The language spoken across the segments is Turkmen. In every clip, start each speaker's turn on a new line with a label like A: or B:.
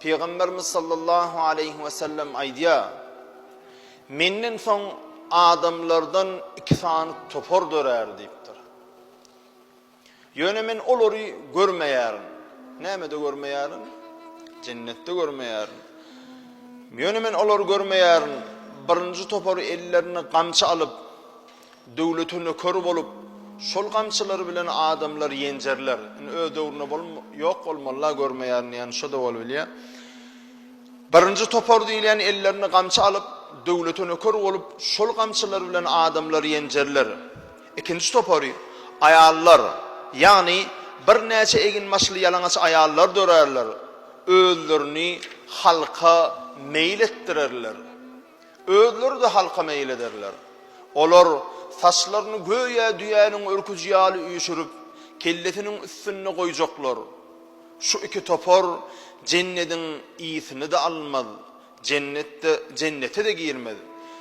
A: Pygamberimiz sallallahu aleýhi we sellem aýdýar, Menden soň adamlardan iki sany topar dörär diýipdir. Ýöne men olary görmeýärin. Nämede görmeýärin? Jennetde görmeýärin. Ýöne men olary görmeýärin. Birinji topar ellerine gamçy alyp, Döwlete nöker bolup, şol gamçylar bilen adamlar ýenjerler. Indi öz döwründe bolum, ýok bolmaly-la görmeýärin diýýän şo-da bolubilýär. Birinji topar diýilýän ellerine gamçy alyp, döwlete nöker bolup, şol gamçylar bilen adamlar ýenjerler. Ikinji topary, aýallar, ýagny birnäçe eginbaşly ýalaňaç aýallar dörärler, özlerini halka meýil etdirerler. Özleri-de halka meýil ederler. Olar saçlaryny göýä düýäniň örküji ýaly üýşürip, kellesiniň üstünde goýjaklar. Şu iki topar Jennediň ysini-de almaz, Jennetde, Jennete-de girmez.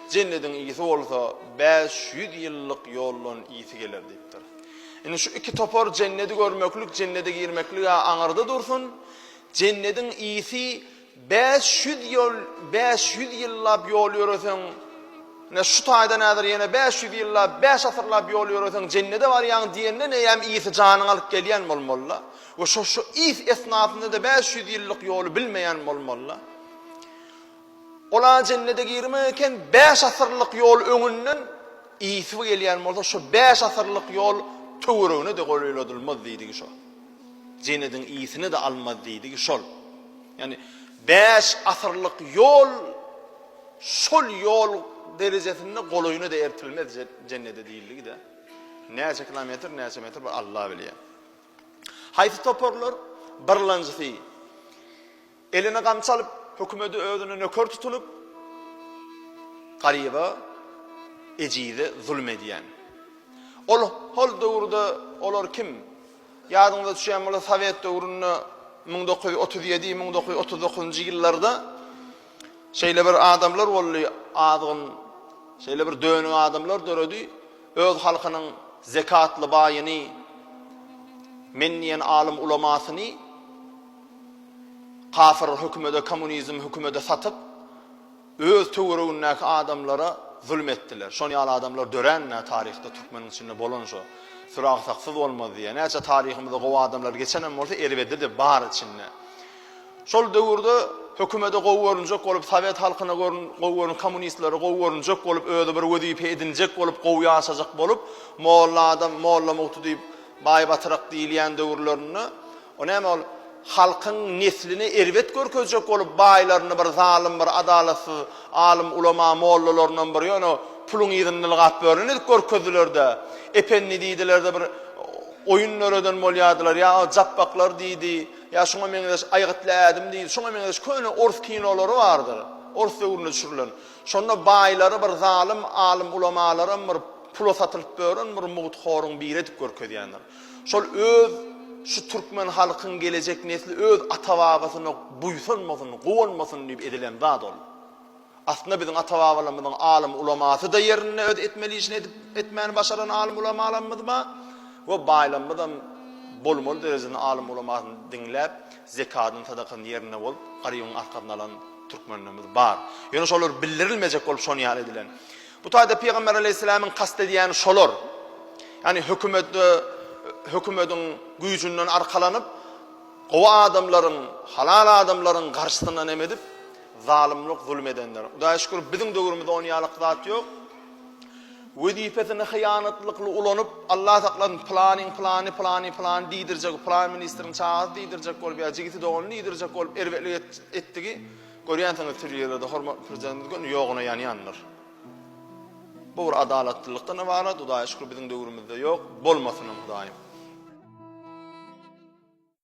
A: Jennediň ysy bolsa bäş ýüz ýyllyk ýoldan ýiti geler diýipdir. Indi şu iki topar Jennedi görmeklik, Jennede girmeklig-ä aňyrda dursun, Jennediň ysy Bäş ýüz ýol, bäş ýüz ýyllap ýol ýöreseň, ine, şu taýdan häzir ýene bäş ýüz ýyllap, bäş asyrlap ýol ýöreseň, jennede barýaň diýende näme ýiti janyňy alyp gelýän bolmaly-la. We şo, şo is esnasynda-da bäş ýüz ýyllyk ýoly bilmeýän bolmaly-la. Ol-a jennede girmek eken, bäş asyrlyk ýol öňünden isbi gelýän bolsa, şo bäş asyrlyk ýol töweregine-de golaýladylmaz diýdigi şo. Jenediň iyisini-de almaz diýdigi şol. Ýani bäş asyrlyk ýol şol ýol derejesinde golaýyna-da ertilmez jennede diýildigi-de. Näçe kilometr, näçe metr bir Alla bilýär. Haýsy toparlar? Birlanjysy Eline gamçy alyp, hökümedi özüne nöker tutunyp, garyba, ejize zulum edýän. Ol hol döwürde olar kim? Ýadyňyza düşýän bolsa sowet döwründe müň dokuz ýüz otuz ýedi, müň dokuz ýüz otuz dokuzynjy ýyllarda şeýle bir adamlar boldy, azgyn, şeýle bir dönük adamlar döredi, öz halkynyň zekatly baýyny, men diýen alym ulamasyny Kasyr hökümede komunizm hökümede satyp öz töweregindäki adamlara zulum etdiler. Şon ýaly adamlar döränmä taryhda türkmeniň içinde bolan şo. Süragsakysyz bolmaz diýýä. Näçe taryhymyzda gowy adamlar geçenem bolsa erbedidi bar içinde. Şol döwürde hökümede gowy görünjek bolup sowet halkyna görün gowy görün kommunistlere gowy görünjek bolup özi bir wezipe edinjek bolup gowy ýaşajak bolup molla adam molla mugty diýip baý batyrak diýilýän döwürlerinde O näme ol halkyň nesline erbet görkezjek bolup baýlaryny bir zalym bir adalatsyz alym ulama mollalaryndan bir ýöne puluň yzyny nylgap bören edip görkezdiler-de ependi diýdiler-de bir oýun döreden bolýadylar ýa o japbaklar diýdi ýa şuňa meňzeş aýgytly ädim diýdi şuňa meňzeş köne ors kinolary bardyr ors döwründe düşürilen şonda baýlary bir zalym alym ulamalaram bir pula satylyp bören bir mugt horuň biri edip görkezýändir. Şol öz şu türkmen halkyň gelejek nesli öz ata-babasyna buýsanmasyn, guwanmasyn diýip edilen zat ol. Aslynda biziň ata-babalarymyzyň alym ulamasyda ýerinde öz etmeli işini edip etmäni başaran alym ulamalarymyz bar we baýlamyzam bolmaly derejesinde alym ulamasyny diňläp zekadyn sadakasyny ýerinde bolup garybyň arkasyny alan türkmenlerimiz bar. Ýöne şolar bildirilmejek bolup şony ýaly edilen. Bu taýda Pygamber aleýhissalamyň kast edýäni şolar. Ýagny hökümetde hökümetiň güýjünden arkalanyp, gowy adamlaryň, halal adamlaryň garşysyna näme edip, zalymlyk, zulum edenler. Hudaýa şükür, biziň döwrümizde ony ýalyk zat ýok. Wezipesini hyýanatlykly ulanyp, Allah saklasyn, planyň plany, plany, plany diýdirjek, plan ministriň çagasy diýdirjek bolup ýa jigisi doganly diýdirjek bolup erbetlik etdigi Görýänsiňiz türli ýerlerde hormatly Prezidentimiz göni ýoguna ýanýandyr. Bu bir adalatlylykdan ybarat, Hudaýa şükür biziň döwrümizde ýok, bolmasynam Hudaýym.